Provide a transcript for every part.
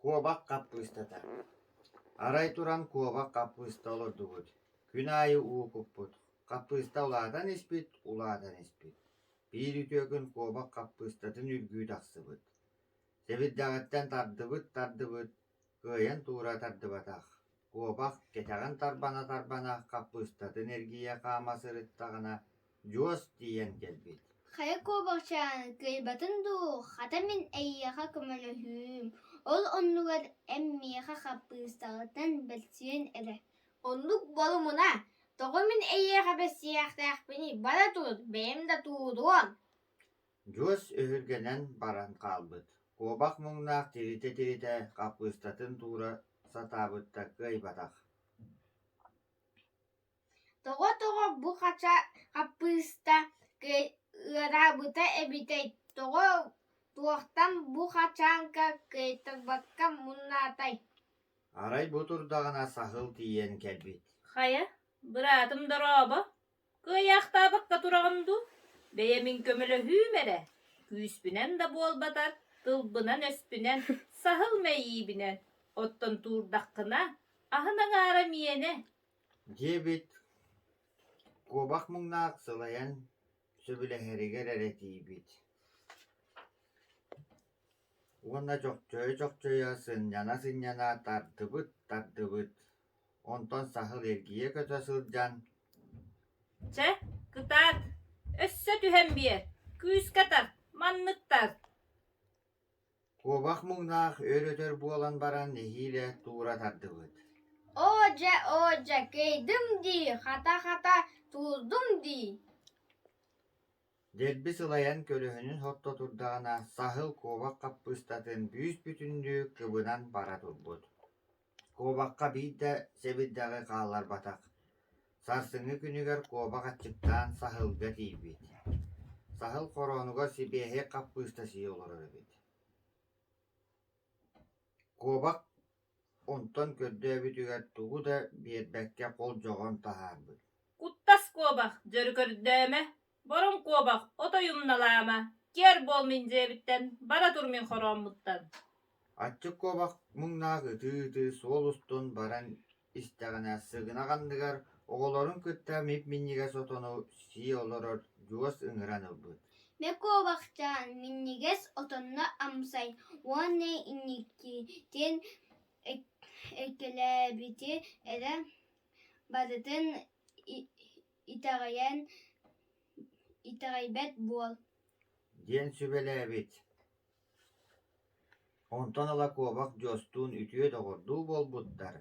Куобах хаппыыстата Арай туран куобах хаппыыста олордубут, күн аайы уукуппут, хаппыыста улаатан испит, улаатан испит, биир үтүөкүн куобах хаппыыстатын үргүү тахсыбыт. Сэбирдэҕиттэн тардыбыт-тардыбыт, кыайан туура тардыбатах, куобах кэтэҕин тарбана-тарбана хаппыыстатын эргийэ хаама сырыттаҕына, дьуос тиийэн кэлбит «Хайа куобахчаан, кыайбатын дуу, хата мин эйиэхэ көмөлөһүüm, ол оннугар эн миэхэ хаппыыстаҕыттан бэлсиэн эрэ» Оннук болумуна, тоҕо мин эйиэхэ бэссиээхтээхпиний, бара тур, бэйэм да тууруон Дьуос өһүргэнэн баран хаалбыт, куобах муҥнаах тиһитэ-тиһитэ хаппыыстатын туура сатаабыта кыайбатах «Тоҕо-тоҕо бу хача хаппыыста ыараабыта эбитэй, тоҕо туохтан бу хачаанка кыайтарбакка муннаатай» Арай бу турдаҕына саһыл тиийэн кэлбит: «Хайа, быраатым дорообо Кыайаахтаабакка тураҕын дуу, бэйэмин көмөлөһүүм эрэ, күүспүнэн да буолбатар, тылбынан-өспүнэн, саһыл мэйиибинэн оттон туурдаххына, аһын аҥаара миэнэ диэбит куобах муҥнаах сылайан сөбүлэһэригэр эрэ тиийбит уонна чохчойо-чохчойо сынньана-сынньана тардыбыт-тардыбыт Онтон саһыл эргийэ көтө сылдьан: «Чэ, кытаат, өссө түһэн биэр, күүскэ тар, манныктар» Куобах муҥнаах өр-өтөр буолан баран нэһиилэ туура тардыбыт. «Оо дьэ, оо дьэ, кэйдим дии, хата-хата, туурдум дии» Дэлби сылайан көлөһүнүн сотто турдаҕына, саһыл куобах хаппыыстатын бүүс-бүтүннүү кыбынан бара турбут. Куобахха биир да сэбирдэҕи хаалларбатах, сарсыҥҥы күнүгэр куобах аччыктаан саһылга тиийбит, саһыл хороонугар сибиэһэй хаппыыста сии олорор эбит Куобах онтон көрдөөбүтүгэр тугу да биэрбэккэ холдьоҕон таһаарбыт «Куттас куобах, дьөрү көрдөөмө» Борум куобах от ойумналаама, киэр буол мин дьиэбиттэн, бара тур мин хорооммуттан. Аччык куобах муҥнаах ытыы-ытыы суол устун баран истэҕинэ сыгынах анныгар оҕолорун кытта мип-минньигэс отону сии олорор дьуос ыҥыран ылбыт. Бэ куобахчаан минньигэс отонно амсай уонна инники диэн эккэлээбити эрэ барытын Итэҕэйэн итэҕэйбэт буол диэн сүбэлээбит. Онтон ыла куобах Дьостуун үтүө доҕордуу буолбуттар,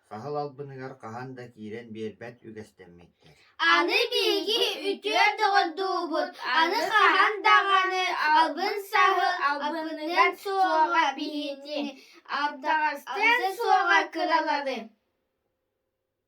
саһыл албыныгар хаһан да киирэн биэрбэт үгэстэммиттэр. Аны биһиги үтүө доҕордуубут, аны хаһан даҕаны албын-саһыл албыныгар суоҕа биһиги абдаҕастыан суоҕа кыралары